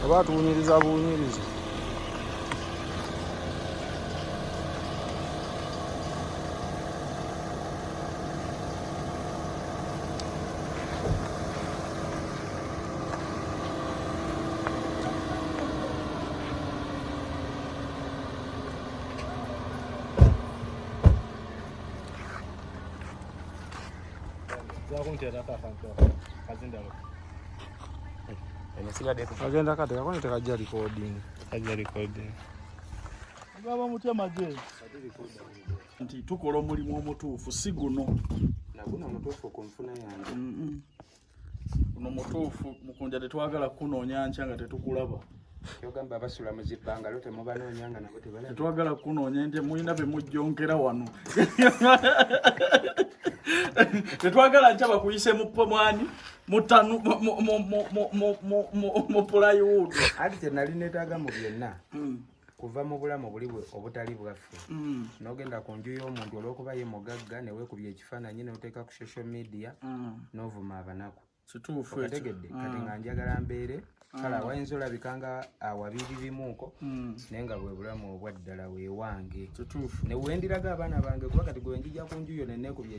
oba atuwunyiriza buwunyiriza agenda kati kakone tekajja recording kajja recording baba mutya maje nti tukola omulimu omutuufu si guno naguno omutuufu ku nfuna yange Kuno mutuufu mukunja tetwagala kunoonya nkya nga tetukulaba. Kyogamba abasula mu zibbangalo temubanoonya nga nabo tebalaba. Tetwagala kunoonya nti mulina be mujjonkera wano. Tetwagala nkya bakuyise mu pomwani mutanu mu pulayiwuudu. Ati kye nali neetaaga mu byonna. Hmm. kuva mu bulamu buli obutali bwaffe mm. nogenda ku nju y'omuntu olwokuba ye mugagga newekubya ekifaananyi noteeka ku social media mm. novuma abanaku kituufuotegedde kati mm. nga njagala mbeere kale awayinza olabika nga awabiri bimuuko naye nga bwe bulamu obwaddala wewange newendiraga abaana bange kuba kati gwenjija ku nju yo nenekubya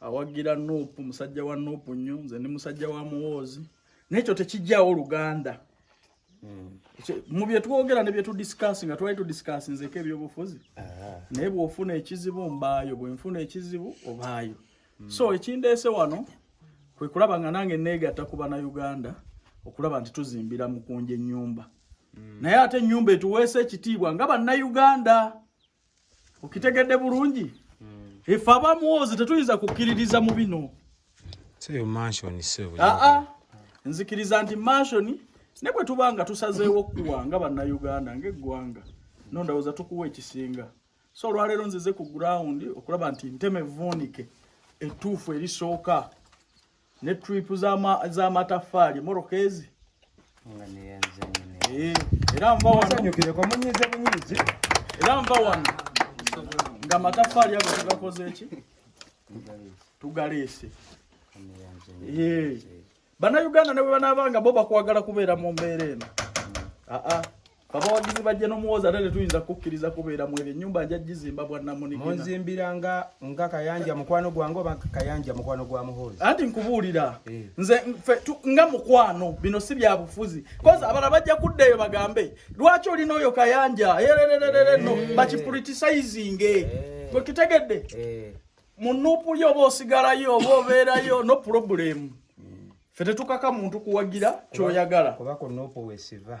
awagira nup musajja wa nup nnyo nze ndi musajja wa muwoozi nekyo tekijjawo oluganda hmm. mu byetwogera ne byetudiscasi nga twali tudiscasi nzeko ebyobufuzi ah. naye bwofuna ekizibu mbaayo bwenfuna ekizibu obaayo hmm. so ekindeese wano kwekulaba nga nange neegatta kuba na uganda okulaba nti tuzimbira mukunja enyumba hmm. naye ate enyumba etuweesa ekitiibwa nga bannauganda okitegedde bulungi hmm. efe abamwozi tetuyinza kukkiririza mu bino aa nzikiriza nti mansioni ne bwe tuba nga tusazeewo kuwa nga bannayuganda ngaeggwanga no ndowooza tukuwa ekisinga so olwaleero nzize ku gurawundi okulaba nti nteme vuunike ettuufu erisooka ne trip zama za matafali morokezi nga ne yanze ne eh era mva wano sanyukire kwa munyize munyize era mva wano nga matafali yako tugakoze ki tugalese eh bana uganda ne bana banga boba kwagala kubera mu mbere eno a ah, a ah. abawagizi bajja n'omuwooza ate tetuyinza kukkiriza kubeera mu ebyo ennyumba nja gizimba bwannamunimunzimbira nga nga kayanja mukwano gwange oba kayanja mukwano gwa muhoozi anti nkubuulira eh. nze nga mukwano bino si bya bufuzi kozi abala bajja kudda eyo bagambe lwaki olina oyo kayanja erererereno eh. bakipuritisizinge eh. gwekitegedde mu nuupu yo oba osigalayo oba obeerayo no pulobulemu hmm. fe tetukaka muntu kuwagira kyoyagala kuba ku nuupu wesiva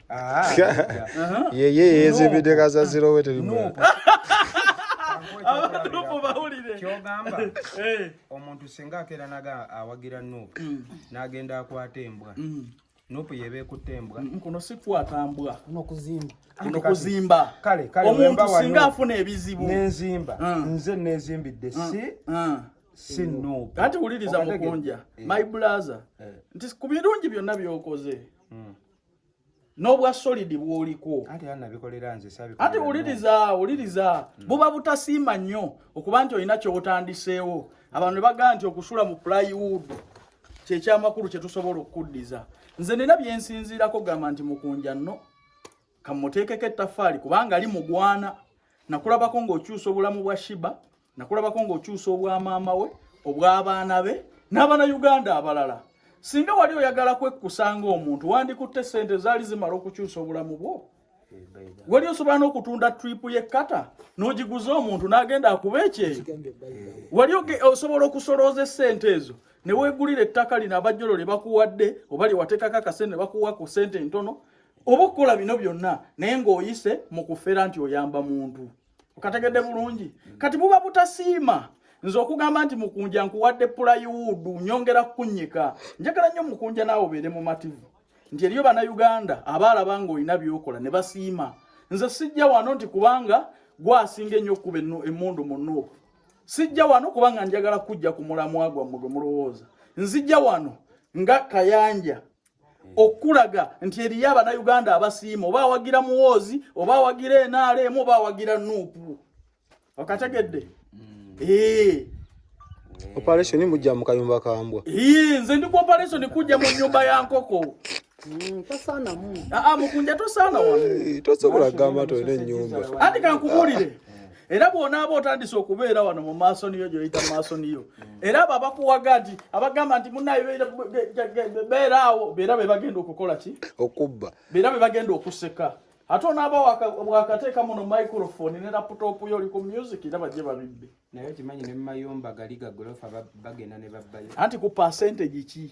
Ah, yeye yezibide kaza zirowe tuli mu kyogamba eh. omuntu singa akeera naga awagira nup mm. nagenda akwata embwa mm. nup yeba ekutte embwa mm, kuno sikwata mbwa nokuzimba omuntu singa afuna ebizibu nenzimba nze nezimbidde si si nup kati wuliriza mukunja eh. my blaza eh. nti ku birungi byonna byokoze n'obwa solidi bwoliko ati wuliriza wuliriza mm. buba butasiima nnyo okuba nti olina kyotandiseewo abantu ne bagaa nti okusula mu plywood kyekyamakulu kyetusobola okukuddiza nze nina byensinziirako gamba nti mukunja nno kamuteekeko ettafaali kubanga ali mugwana nakulabako ng'okyusa obulamu bwa shiba nakulabako ng'okyusa obwa maama we obw'abaana be n'abana uganda abalala singa wali oyagala kwekkusa ng'omuntu wandikutte ssente ezaali zimala okukyusa obulamu bwo wali osobola n'okutunda tripu y'ekkata n'ogiguza omuntu n'agenda akuba ekyeyo wali osobola okusolooza essente ezo ne weegulira ettaka lino abajjolo lye bakuwadde oba lye wateekako akasente ne bakuwa ku ssente entono oba okukola bino byonna naye ng'oyise mu kufera nti oyamba muntu okategedde bulungi mm. kati buba butasiima nze okugamba nti mukunja nkuwadde pulayiwuudu nyongera kukunyika njagala nnyo mukunja naawe obeere mumativu nti eriyo bannayuganda abaalaba nga olina byokola ne basiima nze sijja wano nti kubanga gwasinga ennyo okukuba emundu mu nuupu sijja wano kubanga njagala kujja ku mulamwa gwammwe gwe mulowooza nzijja wano nga kayanja okulaga nti eriyo abanayuganda abasiima oba awagira muwoozi oba awagira enaala emu oba awagira nuupu okategedde mm. eh. operation mujja mu kayumba kambwa eh, nze ndi ku operation kujja mu nyumba ya nkoko mm, ah, ah, mukunja tosaana wano eh, tosobola kugamba tolina enyumba anti kankubuulire era bw'onaaba otandise okubeera wano mu maaso niyo gyoyita mu maaso niyo era abo abakuwaga nti abagamba nti munaye beera awo beera be bagenda okukola ki okubba beera be bagenda okuseka ate onaaba wakateeka muno microphone ne laputopu yo oli ku music era bajje babibbe naye okimanyi ne mumayumba gali gagolofa bagenda ne babbayo anti ku percentage ki